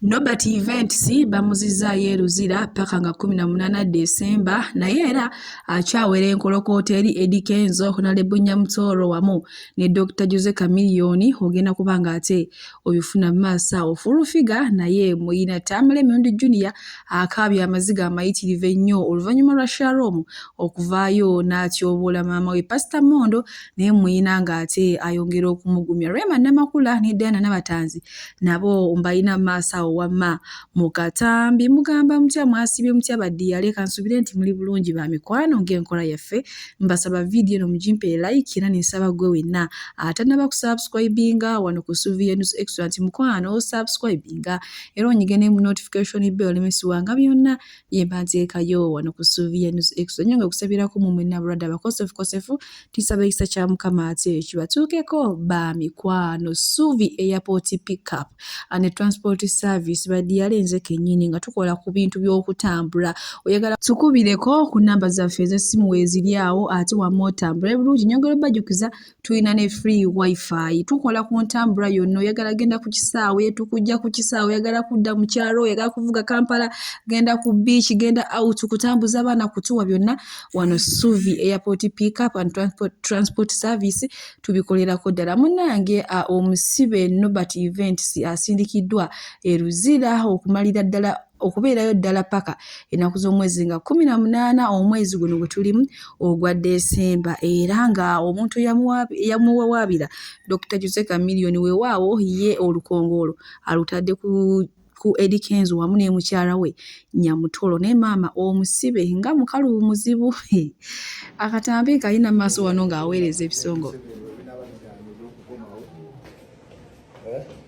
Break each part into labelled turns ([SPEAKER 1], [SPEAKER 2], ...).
[SPEAKER 1] Nobert Events bamuzizaayo e Luzira ppaka nga 18 Desemba naye era akyawera enkolokoota eri Eddy Kenzo, Honorable Nyamutoro wamu ne Dr. Jose Chameleone ogenda kuba nga ate oyufuna maaso awo Full Figure naye muyina Tamale Mirundi Junior akaabya amaziga amayitirivu ennyo oluvannyuma lwa Sharom okuvaayo n'atyoboola maama we Pastor Mondo naye muyina ng'ate ayongera okumugumya Rema Namakula ne Diana Nabatanzi nabo mbalina mu maaso awo wamma mu katambi mugamba mutya mwasibye mutya badiyale kansubire nti muli bulungi ba mikwano ng'enkola yaffe mbasaba vidiyo eno mugimpe like era nensaba gwe wenna atanaba kusubscribinga wano ku suviya news extra nti mukwano osubscribinga era onyige ne mu notification bell olemesiwanga byonna ye mbanteekayo wano ku Sylvia News Extra nyo nga kusabirako mu mwenna brada bakosefu kosefu tisaba ekisa kya mukama ate kibatuukeko ba mikwano Suvi airport pickup and transport service badiyale nze kenyini nga tukola ku bintu by'okutambula oyagala tukubireko ku namba zaffe ez'essimu weeziri awo ate wamma otambula ebirungi nyongera obajukiza tulina ne free wifi tukola ku ntambula yonna oyagala genda ku kisaawe tukujja ku kisaawe oyagala kudda mu kyalo oyagala kuvuga kampala genda ku beach genda out kutambuza abaana kutuwa byonna wano suvi airport pick up and transport, transport service tubikolerako ddala munange omusibe nobert events asindikiddwa eruzira okumalira ddala okubeerayo ddala paka ennaku z'omwezi nga kumi na munaana omwezi guno gwe tulimu ogwa desemba era nga omuntu yamuwawaabira dr jose kamiliyoni wewaawo ye olukongoolo alutadde ku ku edikenzo wamu n'emukyala we nyamutolo naye maama omusibe nga mukalu muzibu akatambi kalina maaso wano ng'aweereza ebisongo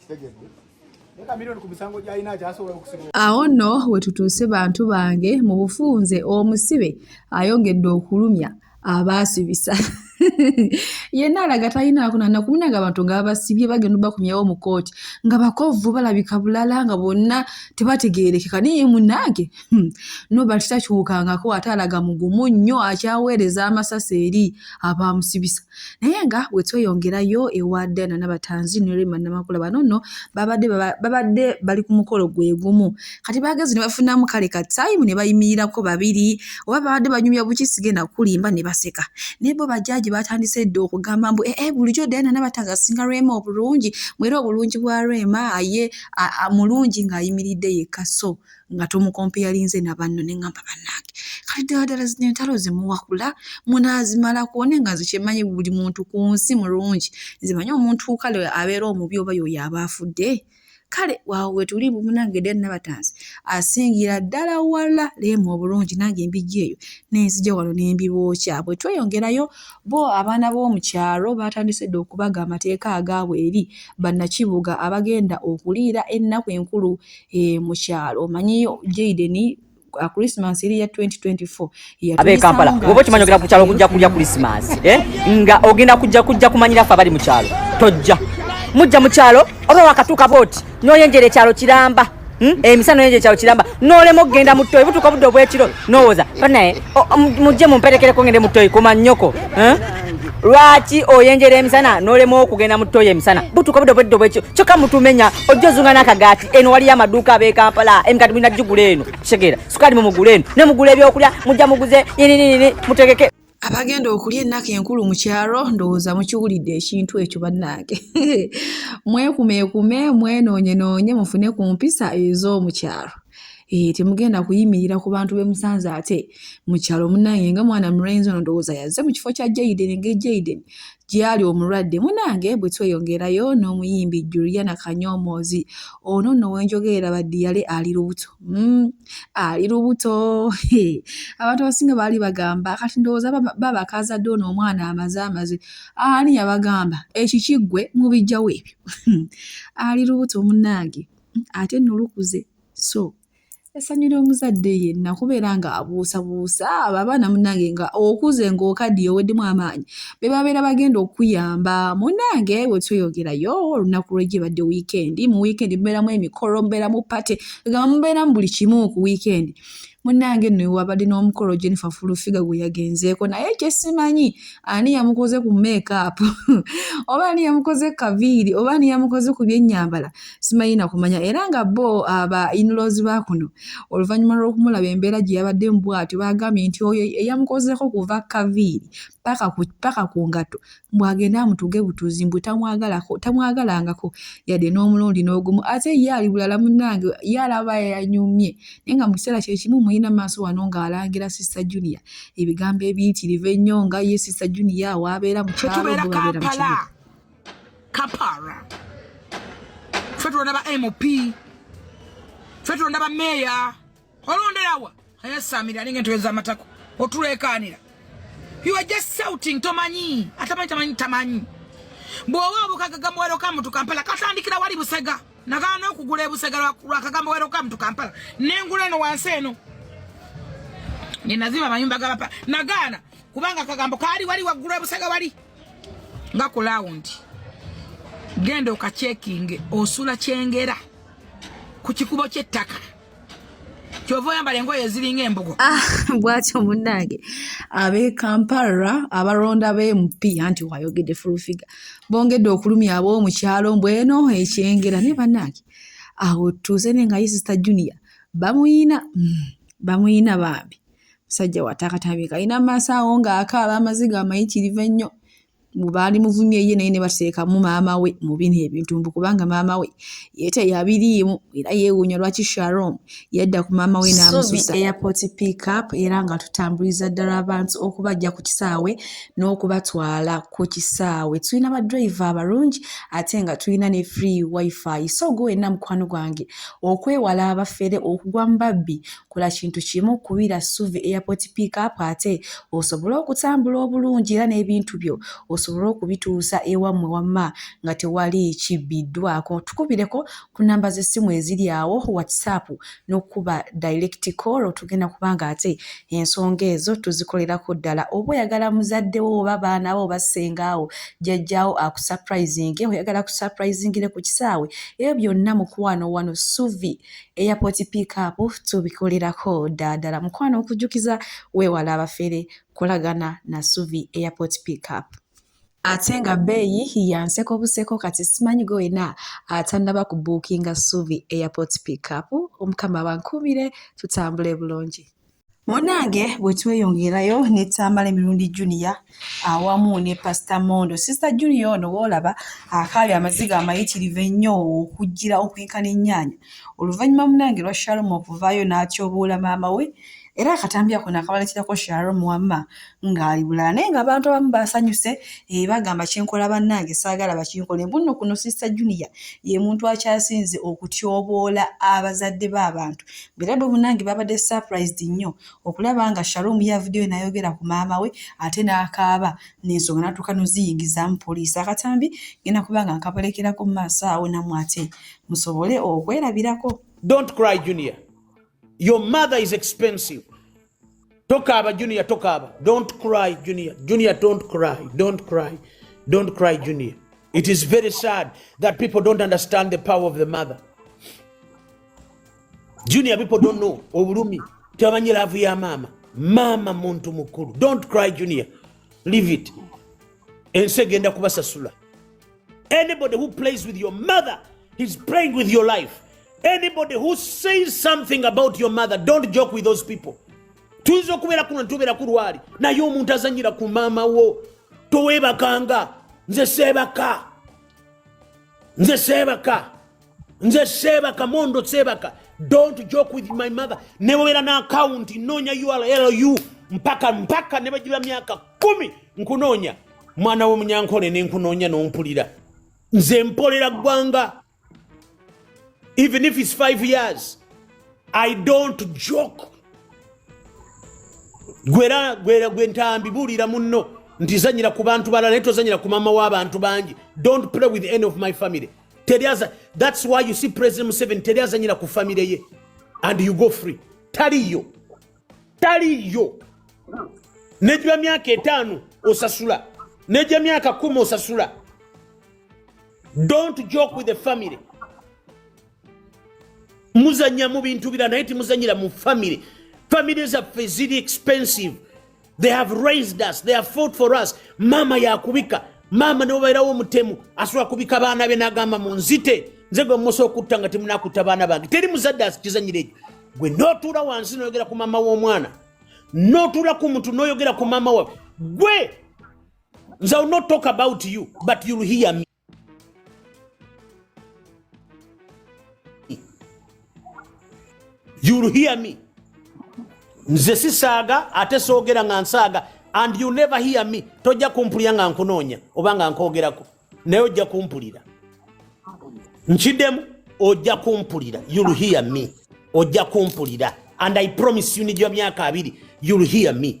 [SPEAKER 2] kitegedde awo nno
[SPEAKER 1] wetutuuse bantu bange mu bufunze omusibe ayongedde okulumya abaasibisa yenna alaga talinaakuna nakumunanga abantu nga babasibye bagenda obakumyawo mu kooti nga bakovu balabika bulala nga bonna tebategeerekeka naye munange hmm, nobati takyukangako ate alaga mugumu nnyo akyaweereza amasasi eri abaamusibisa naye nga wetweyongerayo ewa dana nabatanzi nerima namakula bano no babadde babadde bali ku mukolo gwegumu kati bagezi nebafunamu kale ka time nebayimirirako babiri oba babadde banyumya buki sigenda kulimba nebaseka naye bo bajaji batandise dda okugamba mbu ee eh, eh, bulijo dana nabatanzi asinga rema obulungi mwera obulungi bwa rema aye mulungi ngaayimiridde yekka so nga tomukompeyalinze na banno ne ŋŋamba bannange kati ddala ddala zino entalo zimuwakula munaazimalako ne nga nze kyemanyi buli muntu ku nsi mulungi nze manyi omuntu kale abeera omubi oba yoyo aba afudde kale waawo wetuli munange den nabatanzi asingira ddala wala leemu obulungi nange embijja eyo nenzija wano nembibookya bwe tweyongerayo bo abaana b'omukyalo batandise dde okubaga amateeka agaabwe eri bannakibuga abagenda okuliira ennaku enkulu eh, mu kyalo omanyiyo Jaden uh, Christmas eri ya 2024 abe Kampala
[SPEAKER 3] obo kimanyi ogenda ku kyalo kujja kulya Christmas eh nga ogenda kujja kujja kumanyira fa bali mu kyalo tojja mujja mu kyalo oba wakatuka boti noyenjere kyalo kiramba Hmm? emisano eh, yenje kyalo kiramba nolema okugenda mu toyi butuuka budde obwekiro nowoza banaye mujje mumperekereko ngende mu toyi kuma nyoko eh? lwaki oyenjera emisana nolema okugenda mu toyo emisana butuka budo bweddo bwekyo kyoka mutumenya ojja ozunga n'akagaati eno waliyo amaduuka abekampala emikati mulina gigula eno kitegeera sukaali mu mugula eno ne mugula ebyokulya mujja muguze yininini mutegeke abagenda okulya
[SPEAKER 1] ennaku enkulu mu kyalo ndowooza mukiwulidde ekintu ekyo bannange mwekumeekume mwenoonyenoonye mufune ku mpisa ez'omu kyalo Eh, temugenda kuyimirira ku bantu be musanze ate mu kyalo munange nga mwana mulenzi ono ndowooza yazze mu kifo kya jaiden nga ejaiden gyali omulwadde munange bwe tweyongerayo n'omuyimbi juliana kanyomoozi ono nno wenjogerera baddiyale ali lubuto mm, ali lubuto abantu abasinga baali bagamba kati ndowooza babakazadde ono omwana amaze amaze ani yabagamba ekikiggwe mubijjawo ebyo ali lubuto munange ate nno lukuze so essanyu ly'omuzadde yenna kubeera nga abuusabuusa abo abaana munange nga okuze ng'okaddiye oweddemu amaanyi be babeera bagenda okuyamba munange wetweyogerayo olunaku lwegibadde wiikendi mu wiikendi mubeeramu emikolo mubeeramu pate egamba mubeeramu buli kimu ku wiikendi munange no wabadde n'omukolo Jennifer Fulufiga gwe yagenzeeko naye kyesimanyi ani yamukoze ku makeup oba ani yamukoze kaviiri oba ani yamukoze ku byennyambala simanyi nakumanya era nga bo aba inlozi ba kuno oluvannyuma lw'okumulaba embeera gye yabadde mu bwatyo baagambye nti oyo eyamukozeeko kuva kaviiri paka ku ngatto mbu agende amutuge butuzi mbu tamwagalako tamwagalangako yadde n'omulundi n'ogumu ate ye ali bulala munnange ye alaba yanyumye naye nga mu kiseera kye kimu mulina maaso wano ng'alangira sista junia ebigambo ebiyitirivu ennyo nga ye sista junia waabeera mu kyalo bwebabeera mu kibuga
[SPEAKER 4] kapara ffe tulonda ba mp ffe tulonda ba meeya olonderawa ayasamira alinga entebe z'amatako otuleekaanira you are just shouting tomanyi atamanyi tamanyi tamanyi bw'oba obukaga gamuwero ka mutu kampala katandikira wali busega nagaana okugula ebusega lwa kagamuwero ka mutu kampala nengula eno wansi eno nenazima amayumba gabapa nagaana kubanga akagambo kaali wali waggulu ebusega wali nga ku lawundi genda okacekinge osula kyengera ku kikubo ky'ettaka kyova oyambala engoye eziringa embugo ah, bwatyo
[SPEAKER 1] munnange ab'e kampala abalonda b'emp anti wayogedde fulufiga bongedde okulumya ab'omu kyalo mbweno ekyengera naye bannange awo tuuze ne nga ye sista junior bamuyina hmm, bamuyina bambi musajja watakatabi kalina maaso awo ng'akaaba amaziga amayitirivu ennyo baali muvumye ye naye ne bateekamu maama we mu bino ebintu mbu kubanga maama we ye teyabiriimu era yeewuunya lwaki sharom yadda ku maama we n'amususa airport pick up era nga tutambuliza ddala abantu okubajja ku kisaawe n'okubatwala ku kisaawe tulina badriver abalungi ate nga tulina ne free wifi so gwe wenna mukwano gwange okwewala abafere okugwa mu babbi Kola kintu kimu, kubira Ssuvi Airport Pick Up ate osobole okutambula obulungi era n'ebintu byo osobole okubituusa ewammwe wamma nga tewali kibbiddwaako. Tukubireko ku nnamba z'essimu eziri awo, WhatsApp n'okukuba direct call tugenda kuba ng'ate ensonga ezo tuzikolerako ddala. Oba oyagala muzadde wo oba baana bo oba ssengaawo, jjajjaawo akusaprayizinge, oyagala akusaprayizingire ku kisaawe, ebyo byonna mukwano wano Ssuvi airport pick up tubikolerako daadala mukwano okujjukiza weewala abafere kolagana na suvi airport pick up ate nga bbeeyi yanseko buseko kati simanyi go wena atannaba ku buukinga suvi airport pick up omukama bankuumire tutambule bulungi munange bwe tweyongerayo ne tambala emirundi junior awamu ne pasita mondo sisita junior ono woolaba akaali amaziga amayitirivu ennyo okujjira okwenkana ennyaanya oluvannyuma munange lwa shalumu okuvaayo n'atyobuula maama we era akatambi ako naakabalekirako shalumu wamma ng'ali bulala naye nga abantu abamu basanyuse eh, bagamba kyenkola bannange saagala bakinkole mbunno kuno sister junior ye muntu akyasinze okutyoboola abazadde b'abantu bera bwe bunange babadde surprised nnyo okulaba nga shalom yavudeyo nayogera ku maama we ate n'akaaba n'ensonga natuuka noziyingizaamu poliisi akatambi ngenda kuba nga nkabolekerako mu maaso awo namu ate musobole okwerabirako don't cry
[SPEAKER 5] junior your mother is expensive tokaaba junior tokaaba don't cry junior junior don't cry don't cry don't cry junior it is very sad that people don't understand the power of the mother junior people don't know obulumi tebamanyi laavu ya maama maama muntu mukulu don't cry junior leave it ensi egenda kubasasula Anybody who plays with your mother, he's playing with your life. Anybody who says something about your mother, don't joke with those people. tuyinza okubeera kuno nitubeera ku lwali naye omuntu azanyira ku maama wo towebakanga nze seebaka nze seebaka nze seebaka mondo seebaka don't joke with my mother newera na akawunti nnoonya urlu mpaka mpaka ne bagiba myaka kumi nkunoonya mwana w'omunyankole ne nkunoonya n'ompulira nze mpolera ggwanga even if it's five years i don't joke gwera gwera gwe ntambi buulira munno nti zanyira ku bantu balala naye tozanyira ku maama w'abantu bangi don't play with any of my family teri aza that's why you see president museveni teri azanyira ku famire ye and you go free taliyo taliyo nejwa myaka etaano osasula nejwa myaka kumi osasula don't joke with the family muzanya mu bintu bira naye timuzanyira mu family family zaffe ziri expensive they have raised us they have fought for us maama yakubika maama newebairawo omutemu asobola kubika baana be nagamba munzite nze gwe musa okutta nga temunakuta baana bange teri muzadde asikizanyira ekyo gwe notuula wansi noyogera ku maama w'omwana notuula ku muntu noyogera ku maama wawe gwe nze will not talk about you but you'll hear me You will hear me. Nze sisaaga ate soogera nga nsaaga and you never hear me. Tojja kumpulira nga nkunoonya oba nga nkoogerako naye ojja kumpulira. Nkiddemu ojja kumpulira. You will hear me. Ojja kumpulira and I promise you nijja myaka abiri. You will hear me.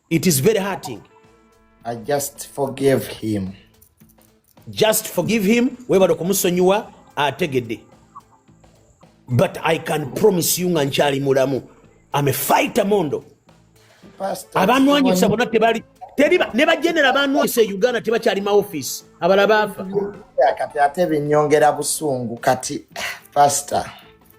[SPEAKER 5] It is very hurting. I
[SPEAKER 2] just forgive him.
[SPEAKER 5] Just forgive him. Webale kumusonyiwa ategede. But I can promise you nga nkyali mulamu. I'm a fighter mondo. Abanwanyisa bona tebali teliba ne bajenera abanwanyisa e Uganda tebakyali ma office. Abala bafa. Kati ate
[SPEAKER 2] binyongera busungu kati pastor.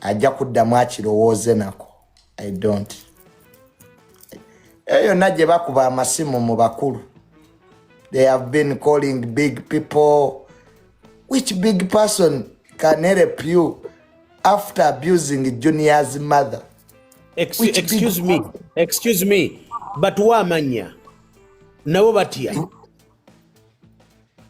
[SPEAKER 2] ajja kuddamu akirowooze nako i don't eyo yonna gye bakuba amasimu mu bakulu they have been calling big people which big person can help you after abusing junior's mother Ex which
[SPEAKER 5] excuse me excuse me batuwa amanya nabo batya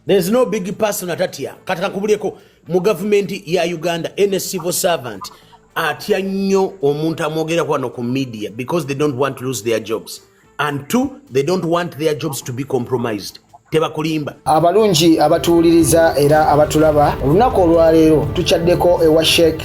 [SPEAKER 5] there's no big person atatya kati kakubuleko mu gavumenti ya uganda any civil servant atya nnyo omuntu amwogerako wano ku media because they don't want to lose their jobs and two they don't want their jobs to be compromised tebakulimba abalungi
[SPEAKER 6] abatuwuliriza era abatulaba olunaku olwaleero tukyaddeko ewa sheikh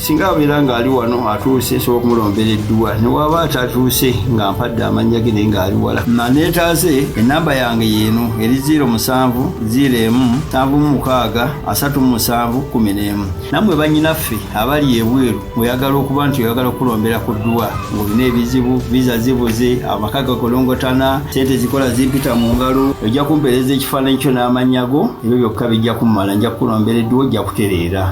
[SPEAKER 7] singa abeera ng'ali wano atuuse nsobola okumulombera edduwa newaaba atatuuse nga mpadde amannya ge naye ng'ali wala maneetaaze ennamba yange yeeno eri 0 musanvu 0 emu nsanvu mu mukaaga asatu mu musanvu kumi n'emu nammwe bannyinaffe abali ebweru oyagala okuba nti oyagala okulombera ku dduwa ng'olina ebizibu viza zibuze amaka gakolongotana sente zikola zimpita mu ngalo ojja kumpeereza ekifaananyi kyo n'amannya go ebyo byokka bijja kummala nja kukulombera edduwa ojja kutereera